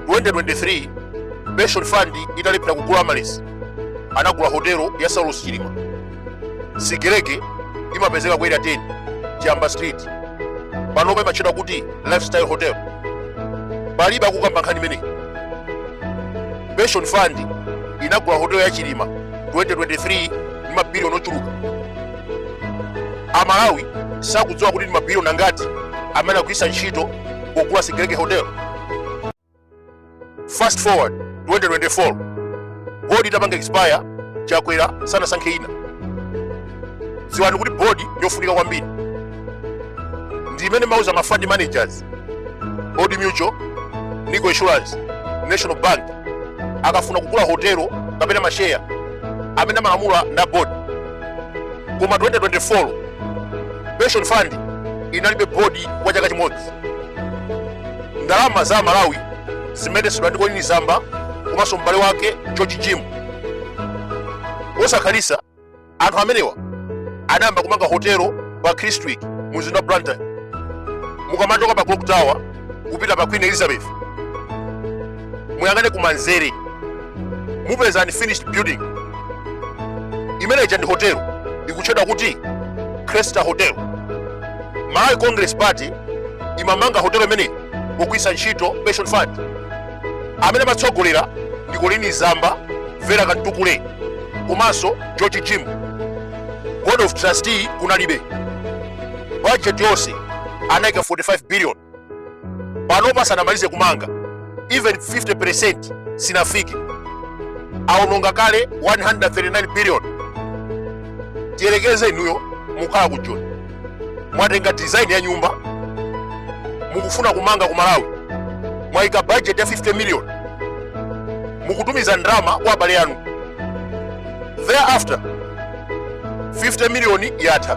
2023 pension fund italephera kugula amaryllis anagula hotelo ya saulos chilima sigelege imapezeka ku area 10 chiyamba street panopa imatchedwa kuti lifestyle hotel palibe akukamba nkhani imeneyi pension fund inagula hotelo ya chilima 2023 ndi mabiliyoni ochuluka amalawi sakudziwa kuti ndi mabiliyoni angati amene akugwiritsa ntchito pogula sigelege hotel fast forward 2024 bodi itapanga expire chakwera sanasankhe ina dziwani kuti bodi ndi yofunika kwambiri ndi imene imauza ma fund managers Old Mutual, Nico Insurance, National Bank akafuna kugula hotelo kapena masheya amene amalamula na board koma 2024 pension fund inalibe board kwa chaka chimodzi ndalama za amalawi zimayendetsedwa ndi colleen zamba komanso m'bale wake george jim posakhalitsa anthu amenewa anayamba kumanga hotelo pa Kristwick mu mzinda wa Blantyre mukamachoka pa Clock Tower kupita pa Queen Elizabeth muyang'ane kumanzere mupeza unfinished building imene ija ndi hotelo ikutchedwa kuti Cresta Hotel Malawi Congress Party imamanga hotelo imeneyi pogwiritsa ntchito pension fund amene amatsogolera ndi colleen zamba vera kamtukule komanso george jim board of trustee kunalibe budget yonse anaika 45 billion panopa sanamalize kumanga even 50% sinafike aononga kale 139 billion tiyerekeze inuyo mukhala ku joni mwatenga design ya nyumba mukufuna kumanga ku malawi mwayika budget ya 50 million mukutumiza ndalama kwa abale anu thereafter 50 million yatha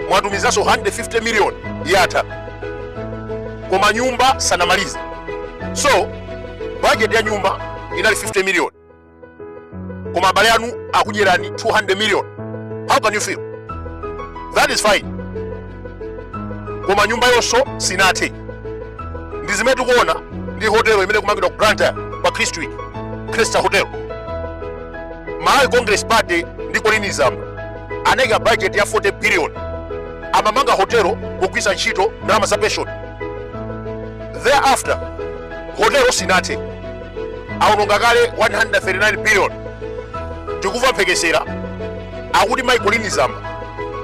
mwatumizanso 150 million yatha koma nyumba sanamalize so budget ya nyumba inali 50 million koma abale anu akudyerani 200 million how can you feel that is fine koma nyumbayonso sinathe ndi zimene tikuona ndi hotelo imene ikumangidwa ku Blantyre pa Kristwick Cresta Hotel Malawi Congress Party ndi Colleen Zamba anayika budget ya 40 billion amamanga hotelo pogwiritsa ntchito ndalama za pension thereafter hotelo sinathe awononga kale 139 billion tikuva mphekesera akuti mai colleen zamba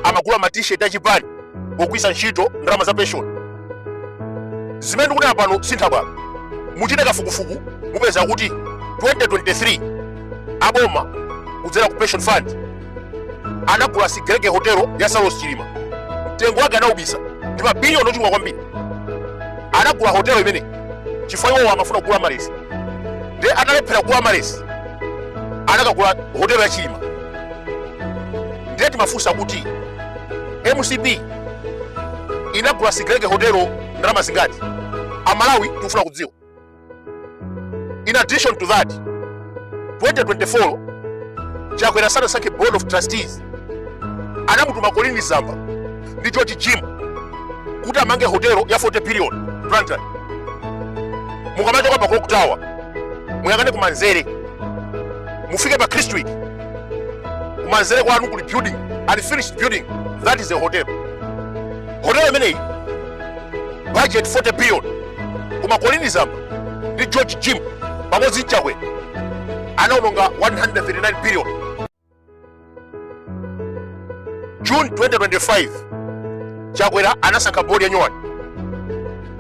amagula ma t-shirt achipani pogwisa ntchito ndalama za pension zimene tikunena pano si nthabwala muchite kafukufuku mupeza kuti 2023 aboma kudzera ku pension fund anagula sigelege hotelo ya saulos chilima mtengo wake anaubisa ndi mabiliyoni ochuluka kwambiri anagula hotelo imene chifukwa iwowo amafuna kugula amaryllis ndiye analephera kugula amaryllis anakagula hotelo ya chilima ndiye timafunsa kuti mcp inagula sigelege hotelo ndalama zingati amalawi tikufuna kudziwa In addition to that, 2024 Chakwera sanasankhe board of trustees anamutuma Colleen Zamba ndi George Jim kuti amange hotelo ya 40 billion Blantyre. Mukamachoka pa Clock Tower muyang'ane kumanzere mufike pa Kristwick kumanzere kwanu kuli building unfinished building that is a hotel. Hotel imeneyi budget 40 billion koma colleen zamba ndi george jim pamodzi nchakwera anaononga 139 billion june 2025 chakwera anasankha bodi ya nyowani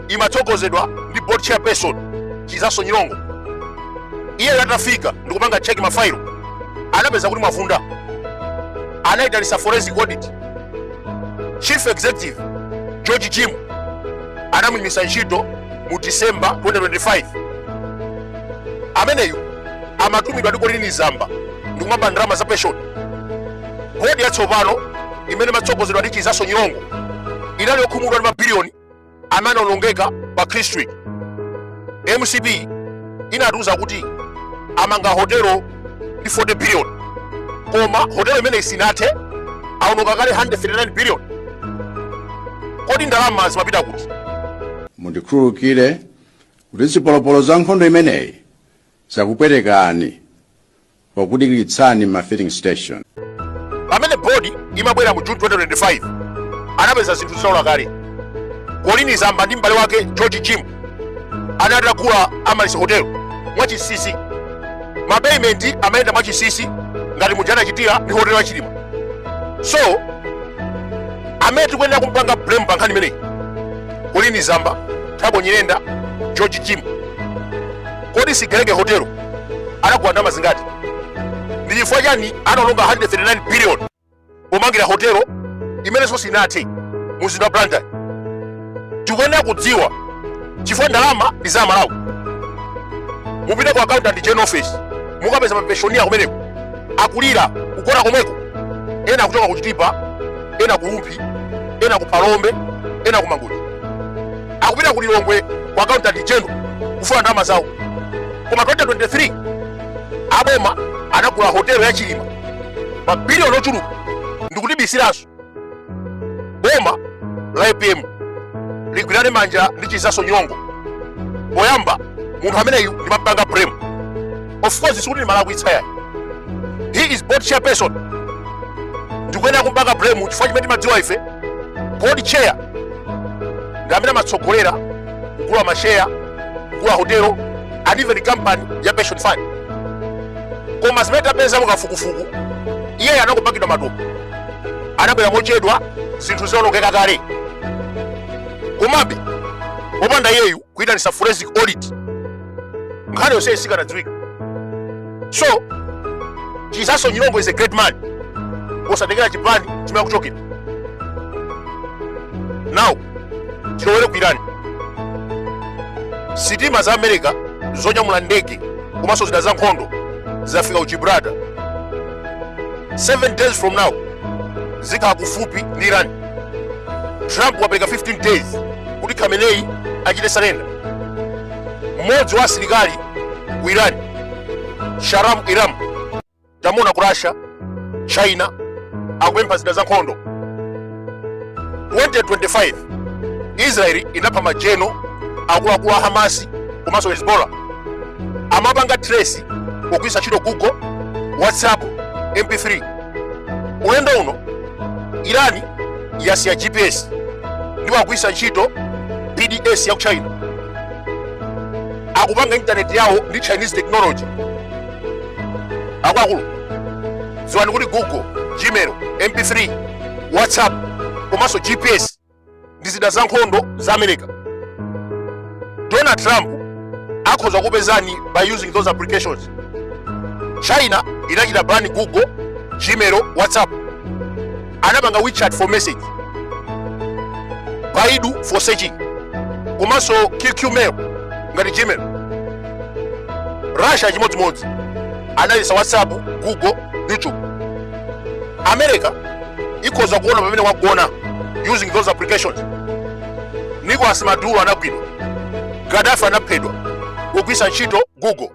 imatsogozedwa ndi board chairperson chizaso nyirongo iyeyo atafika ndikupanga cheki mafailo anapeza kuti mwavunda anaitanisa forensic audit chief executive george jim anamuyimitsa ntchito mu december 2025 ameneyu amatumidwa ndi colleen zamba ndikumaba ndalama za pension bodi yatsopano imene imatsogozedwa ndi chizaso nyirongo inali yokhumudwa ndi mabiliyoni amene anaonongeka pa kristwick mcp inatiuza kuti amanga hotelo ndi 40 billion koma hotelo imeneyi sinathe aononga kale 139 billion kodi ndalama zimapita kuti mundikhululukire kuti zipolopolo za nkhondo imeneyi zakupwetekani pokudikiritsani m'ma filling station. pamene board imabwera mu june 2025 anapeza zinthu zitaola kale colleen zamba ndi m'bale wake george jim anali atagula amaryllis hotel mwachisisi mapeyimenti amayenda mwachisisi ngati muja anachitira ndi hotel ya chilima so amene tikuyenera kumpanga blame pa nkhani imeneyi colleen zamba thabo nyirenda george jim kodi sigelege hotelo anagula ndalama zingati ndi chifukwa chani anaononga 139 billion pomangira hotelo imenenso sinathe mumzinda wa blantyre tikuyenera kudziwa chifukwa ndalama ndi za amalawi mupite ku accountant gen office mukapeza mapenshoniya kumeneko akulira kugona komweko ena kuchoka kuchitipa ena kurumphi ena kuphalombe ena kumangochi akupita ku lilongwe ku accountant general kufuna ndalama zawo koma 2023 aboma anagulira hotelo ya chilima mabiliyoni ochuluka ndikutibisiranso boma la apm ligwirane manja ndi chizaso nyongo poyamba munthu ameneyu ndimapanga blame of course sikuti ndimalakwitsa yayi he is a board chairperson ndikuyenera kumpanga blame chifukwa chimene timadziwa ife board chair ndi amene amatsogolera kugula masheya kugula hotelo and even company ya pension fund koma zimene tapeza mukafukufuku iyeyo anakupangidwa matumbo anabwera mochedwa zinthu zitaonongeka kale komabe popanda iyeyu kuyitanisa forensic audit nkhani yonse sikanadziwika so chizaso nyirongo is a great man osatengera chipani chimene akuchokera now tilowere ku irani sitima za america zonyamula ndege komanso zida za nkhondo zafika ku gibraltar 7 days from now zikhala kufupi ndi irani trump wapereka 15 days kuti khamenei achite surrender mmodzi wa asilikali ku Iran Shahram Irani tamuona ku Russia China akupempha zida za nkhondo 2025 Israeli inapha majeno akuluakulu a Hamasi komanso Hezbollah amapanga trace pogwiritsa ntchito Google WhatsApp MP3 ulendo uno Irani yasiya GPS ndipo akugwiritsa ntchito BDS ya ku China akupanga intaneti yawo ndi chinese technology akuluakulu dziwani kuti google gmail mp3 whatsapp komanso gps ndi zida za nkhondo za america donald trump akhoza kukupezani by using those applications china inachita ban google gmail whatsapp anapanga wechat for message baidu for searching komanso qqmail ngati gmail russia chimodzimodzi analetsa whatsapp google youtube america ikhoza kuona pamene wagona using those applications nicolas maduro anagwidwa gaddafi anaphedwa kugwiritsa ntchito google